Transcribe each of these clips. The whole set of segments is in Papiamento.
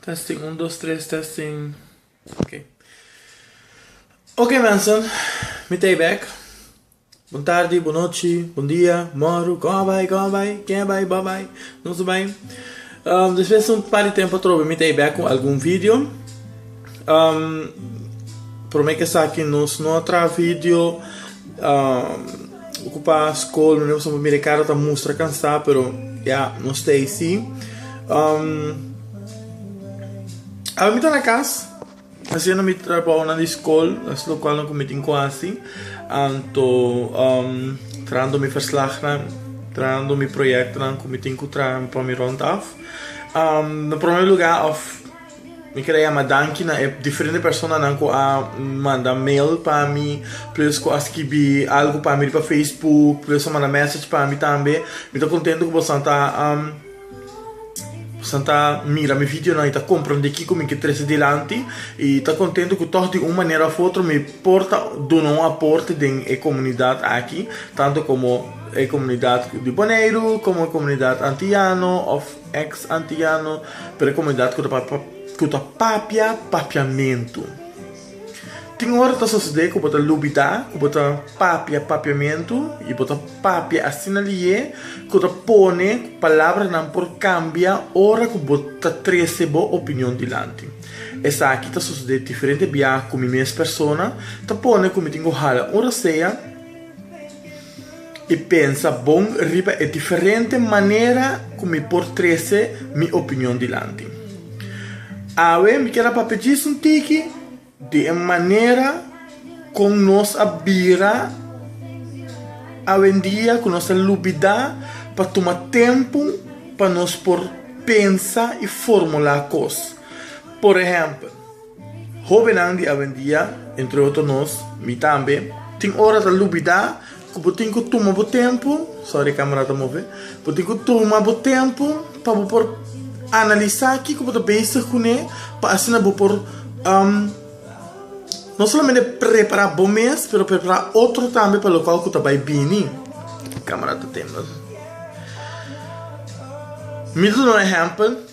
Testing un dos tres testing ok ok mensen mi ta e bek bon tardi bon nochi bon dia moru kon a bai kon a bai ken a bai bo bai nos a bai despues un par di tempo atrobe mi ta e bek ku algun video prome ke esaki nos no a traha video. Ocupa school no negocio mira e cara ta mustra cansa pero ya no sta eysi awe mi ta na cas haciendo mi trabaonan di school es lo cual mi tin cu haci anto trahando mi verslagnan trahando mi projectonan cu mi tin cu traha pa mi rond af na primer lugar of. Mi kere yama danki na e diferente personanan ku a manda mail pa mi, plis ku a skibi algu pa mi riba Facebook, plis a manda mèsech pa mi tambe. Mi ta kontentu ku bosan ta bosan ta mira mi videonan i ta komprondé kiko mi ke trese dilanti. I ta kontentu ku tòg di un manera òf otro mi por ta duna un aporte den e komunidat aki, tantu komo e komunidat di Boneiru, komo e komunidat Antiyano òf. Eks Antiano ta e komunidat ku ta papia papiamentu. Tin ora ta sosodé ku bo ta lubidá ku bo ta papia papiamentu i bo ta papia asina lié ku ta pone ku palabranan por kambia ora ku bo ta trese bo opinion dilanti. Esaki ta sosodé diferente biaha ku mi mes persona ta pone ku mi tin ku hala un rasea, i pensa bon riba e diferente manera ku mi por trese mi opinion dilanti. Awe mi kier a papia djis un tiki di e manera kon nos a bira awendia ku nos ta lubidá pa tuma tempu pa nos por pensa i formulá kos. Por ehèmpel. Hobennan di awendia, entre otro nos, mi tambe, tin ora ta lubidá ku bo tin ku tuma bo tempu, sòri e kamera ta move, bo tin ku tuma bo tempu pa bo por analisá kiko bo ta bezig kuné pa asina bo por no solamente prepará bo mes pero prepará otro tambe pa lokal ku ta bai bini. Kamera ta tembel. Mi ta duna un ehèmpel.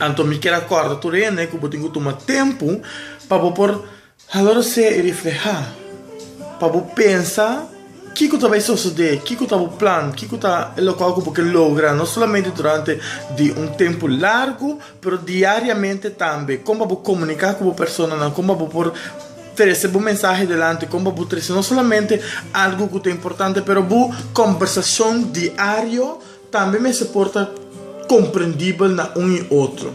Anto mi kier a kòrda tur hende ku bo tin ku tuma tempu pa bo por halorosé i reflehá, pa bo pensa kiko ta bai sosodé, kiko ta bo plan, kiko ta e lokal ku bo ke logra, no solamente durante di un tempu largu pero diariamente tambe, kon pa bo komuniká ku bo personanan, kon pa bo por trese bo mensahe delante, kon pa bo trese no solamente algu ku ta importante pero bo kombersashon diario Tambe mester por ta komprendibel na un i otro.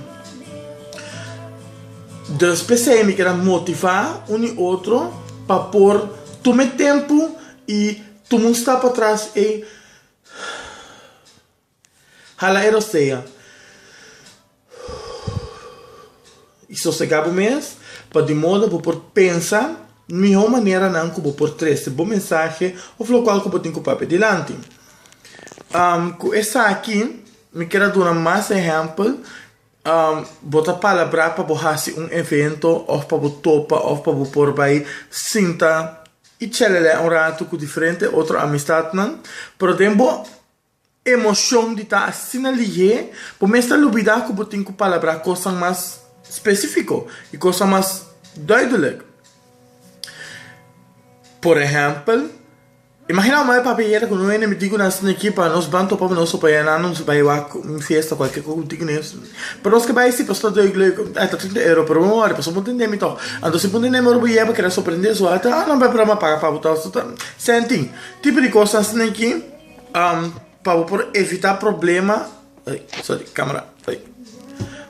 Dus p'esei mi keda motivá un i otro pa por tuma e tempu i tuma un stap atras ei hala e rostrea. I sosegá bo mes pa di moda bo por pensa mihó maneranan ku bo por trese bo mensahe òf lokual ku bo tin ku papia dilanti. Ku esaki mi ker a duna mas ehèmpel, bo ta palabrá pa bo hasi un evento òf pa bo topa òf pa bo por bai sinta i tshelelè un ratu ku diferente otro amistatnan, pero den bo. Emocion di ta asina lihé bo mes ta lubida cu bo tin cu palabrá cosnan mas specifico y cosnan mas duidelijk. Por ehempel, imagina mama y papi hera cu no hende mi dico nan asina aki pa nos ban topa cu nos so paya nan, nos a bay wak un fiesta cualkier cosa cu bo dico nes. Pero nos ke bay así pasobra ta duidelijk, ah ta trinta euro, pero no worry pasobra bo tende mi toh. Anto si bo no tende mi ora bo yega bo keda sorprende su ata, ah no bay problema, paga pa bo toh, senti. Tipo di cosnan asina aki. Pa bo por evitá problema, ey, sorry, camera, ey,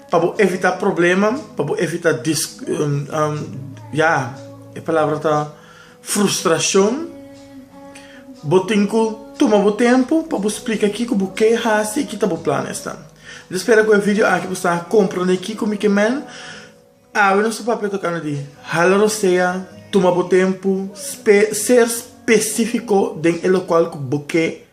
pa bo evitá problema, pa bo evitá dis, ya, e palabra ta frustracion, bo tin cu tuma bo tempu pa bo splica kico bo ke haci y ki ta bo plan esnan. Mi ta spera cu e video aki bo sta comprende kico mi ke men. Awe nos ta papia tocando di hala rosea, tuma bo tempo, ser specifico den e locual cu bo ke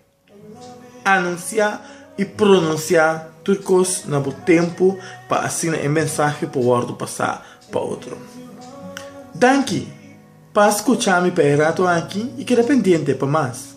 anuncia y pronuncia tur cos na bo tempo pa asina e mensahe por wordo pasa pa otro. Danki pa scucha mi pa e rato aki y keda pendiente pa mas.